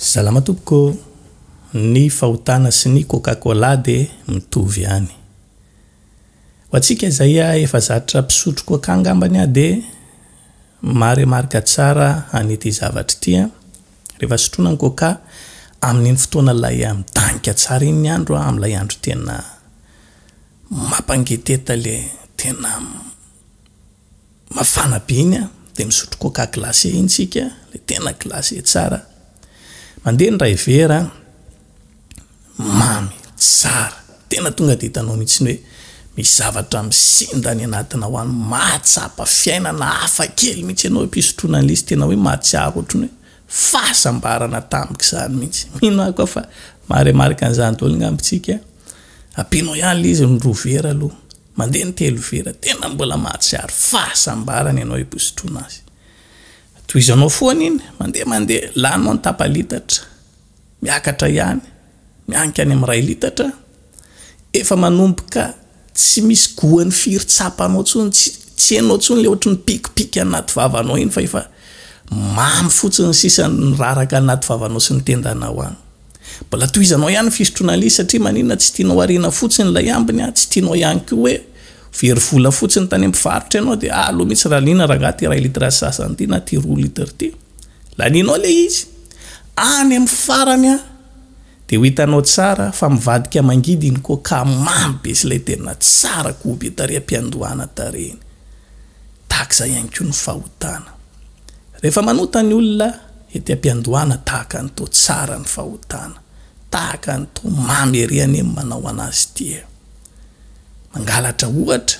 Salama tompoko, ny fahotana sy ny coca cola dia mitovy ihany. Ho antsika izay efa zatra mpisotro coca angambany aho dia maremarika tsara an'ity zavatra ity an, rehefa sotroina ny coca, amin'iny fotoana ilay midanika tsara iny ny andro an, amin'ilay andro tena mampangeteta le tena mafana be iny an, dia misotro coca glacé iny tsika, le tena glacé tsara, mandeha ny iray vera an, mamy, tsara, tena tonga dia hitanao mihitsy hoe misy zavatra misinda any anatinao any, mahatsapa fiainana hafa kely mihitsy ianao am-pisotroana an'ilay izy, tena hoe mahatsiaro ohatran'ny hoe fahasambarana tamik'izany mihitsy, mino aho koa fa maha remarque an'izany daholo angamba isika, ampianao ihany ilay izy ny roa vera aloha. Mandeha ny telo vera, tena mbola mahatsiaro fahasambarana ianao hibosotroana azy. Tohizanao foana iny, mandeha mandeha, laninao ny tapa-litatra, miakatra ihany, mianika any amin'ny iray litatra, efa manomboka tsy misy goany firy tsapanao intsony, tsy tsy henonao intsony ilay ohatry ny pikipika anaty vavanao iny fa efa mamy fotsiny sisa ny raraka anaty vavanao sy ny tendanao any. Mbola tohizanao ihany ny fisotroana lay izy satria maninona tsy tianao ariana fotsiny ilay ambiny a, tsy tianao ihany koa hoe ho very vola fotsiny tany amin'ny mpivarotra ianao dia aleo mihitsy raliana rangaha ity iray litre sy sasany ity na ity roa litre ity. Lanianao ilay izy. Any amin'ny farany a, dia ho hitanao tsara fa mivadika mangidy iny coca mamy be sy ilay tena tsara goût be tarehy am-piandohana tarehy iny. tahaka izay ihany koa ny fahotana. Rehefa manota ny olona ety am-piandohana tahaka ny toa tsara ny fahotana, tahaka ny toa mamy ery anie ny manao an'azy ity e! Mangalatra ohatra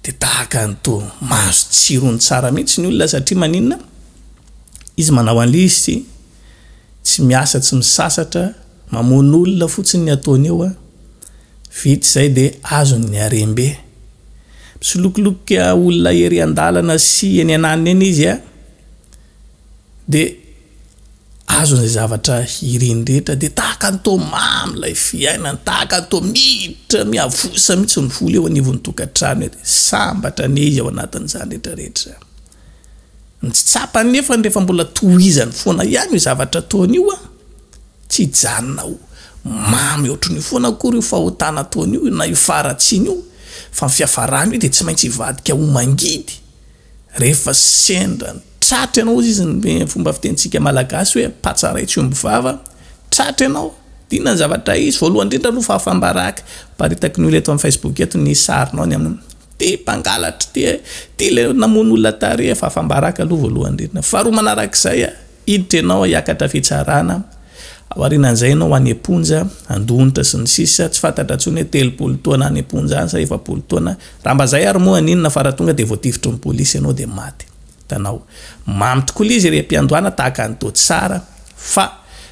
dia tahaka ny toa mahazo tsirony tsara mihitsy ny olona satria maninona? Izy manao an'lzy tsy miasa tsy misasatra, mamono olona fotsiny ny ataony eo a! Vita izay dia azony ny harem-be. Misolokolokika olona ery an-dalana sy eny ananiny eny izy an! Dia azony izay zavatra iriny rehetra dia tahaka ny toa mamy ilay fiainany, tahaka ny toa miditra miavosa mihitsy ny vola eo anivon'ny tokantrano ery. Sambatra anie izy ao anatin'izany rehetra rehetra izany. Ny tsy tsapany nefany rehefa mbola tohizany foana ihany io zavatra ataony io an! tsy hijanona ho mamy ohatran'io foana akory io fahotana ataony io na io faharatsiany io fa ny fiafarany io dia tsy maintsy hivadika ho mangidy rehefa sendra ny tratra ianao hozy izy ny fomba fitenintsika malagasy hoe patsa ray tsy omby vava tratra ianao dia inona ny zavatra hisy? voalohany indrindra aloha fahafam-baraka, aparitaky ny olona eto amin'ny facebook eto ny sarinao ny amin'ny. Dia mpangalatra ity e! Ity ilay namono olona tary efa afam-baraka aloha voalohany indrindra. Faharoa manarak'izay, hiditra ianao hiakatra fitsarana, ao aorianan'izay ianao ho any am-ponja, handonitra sy ny sisa Tsy fantatra intsony hoe telopolo taona any am-ponja any sa efapolo taona. Raha mba izay ary moa haninona fa raha tonga dia voatifitry ny polisy ianao dia maty. Hitanao. Mamy tokoa ilay izy ery am-piandohana tahaka an'i Toatsara fa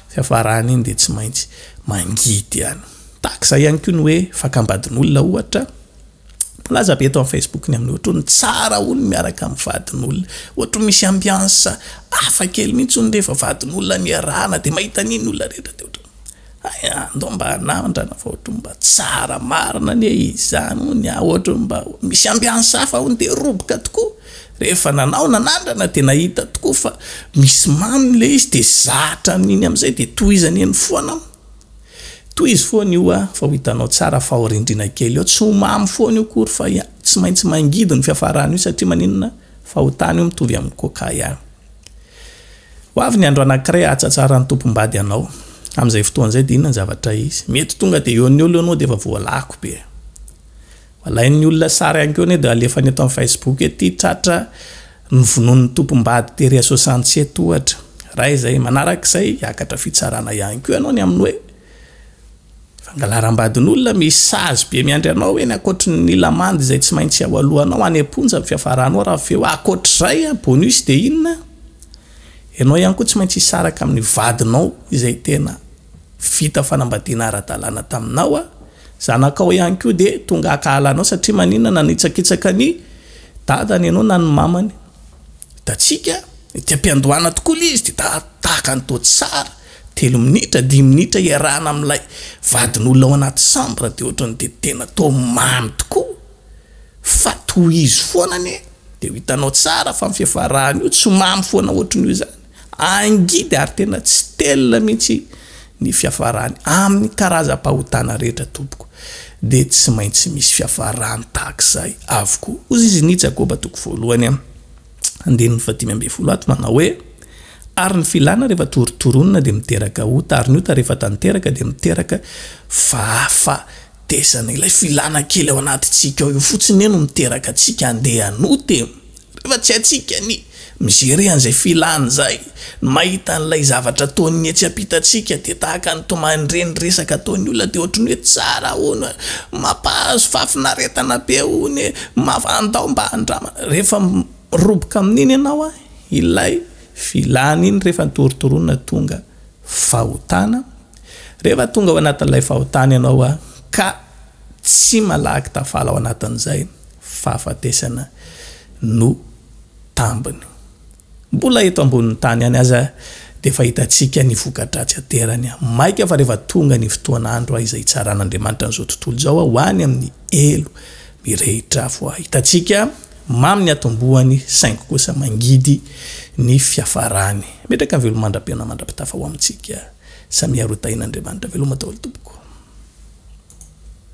fiafarany iny dia tsy maintsy mangidy ihany. Tahaka izay ihany koa ny hoe fakam-badin'olona ohatra. Milaza be eto amin'ny Facebook ny amin'ny ohatra hoe ny tsara hono miaraka amin'ny vadin'olona. Ohatra misy ambiance hafa kely mihitsy hono rehefa vadin'olona no iarahana dia mahita an'iny ny olona rehetra dia ohatra hoe hay a, andao mba hanandrana fa ohatra hoe mba tsara marina anie izany hono a, ohatra hoe mba misy ambiance hafa hono dia roboka tokoa. Rehefa nanao nanandrana dia nahita tokoa fa misy mamy ilay izy dia zatra amin'iny amin'izay dia tohizany eny foana. Tohizo foana io ah fa ho hitanao tsara fa ao rindrina kely ao, tsy ho mamy foana io kory fa tsy maintsy mangidy ny fiafarany io satria maninona fa ho tany io mitovy amin'ny coca ihany. Ho avy ny andro anankiray ahatsatsaran'ny tompom-bady anao, amin'izay fotoana izay dia inona ny zavatra hisy? Mety tonga dia eo an'eo aloha ianao dia efa voalako be. Alain'ny olona sary ihany koa anie dia alefany eto amin'ny Facebook ety, tratra novonoin'ny tompom-bady tery à soixante sept ohatra. Ray izay, manaraka izay hiakatra fitsarana ihany koa ianao ny amin'ny hoe fangalaram-badin'olona, misy sazy be miandry anao eny ankoatry ny lamandy izay tsy maintsy ao alohanao any am-ponja ny fiafaranao raha avy eo ankoatr'izay an, bonus dia inona? Ianao ihany koa tsy maintsy hisaraka amin'ny vadinao izay tena. Vita fanambadiana ara-dalàna taminao aho, zanakao ihany koa dia tonga hakahala anao satria maninona nanitsakitsaka ny dadany ianao na ny mamany? Hitantsika ety am-piandohana tokoa ilay izy dia tahaka ny toa tsara, telo minitra, dimy minitra iarahana amin'ilay vadin'olona ao anaty chambre dia ohatran'ny dia tena toa mamy tokoa fa tohizo foana anie dia ho hitanao tsara fa ny fiafarany io tsy mamy foana ohatran'io izany. Angidy ary tena tsy telina mihitsy ny fiafarany amin'ny karazam-pahotana rehetra tompoko dia tsy maintsy misy fiafarany tahak'izay avokoa hozy izy ny Jakoba toko voalohany am, andininy fahadimy ambin'ny folo ato manao hoe, ary ny filana rehefa torontoronina dia miteraka ota ary ny ota rehefa tanteraka dia miteraka fahafatesana, ilay filana kely ao anatintsika ao io fotsiny anie no miteraka antsika andeha hanota e! Rehefa tsy haintsika ny mi-gérer an'izay filany izay, ny mahita an'ilay zavatra ataon'ny etsy am-pitantsika dia tahaka ny tomany-dre ny resaka ataon'ny olona dia ohatry ny hoe tsara hono e, mampahazo fahafinaretana be hono e, mafa, andao mba handramana. Rehefa miroboka amin'iny ianao an, ilay filany iny rehefa nitorotorona tonga fahotana, rehefa tonga ao anatin'ilay fahotana ianao an, ka. Tsy malaky tafala ao anatin'izay, fahafatesana no tambiny. Mbola eto ambonin'ny tany ihany aza dia efa hitantsika ny voka-dratsy aterany. Maika fa rehefa tonga ny fotoan'andro izay hitsaran'Andriamanitra an'izao tontolo izao ho any amin'ny helo mirehitra afo, hitantsika mamy ny hatombohany saingy kosa mangidy ny fiafarany. Metraka ny velomandram-piainana mandra-pitafa ho amintsika. Samia roa tahin'Andriamanitra veloma daholo tompoko.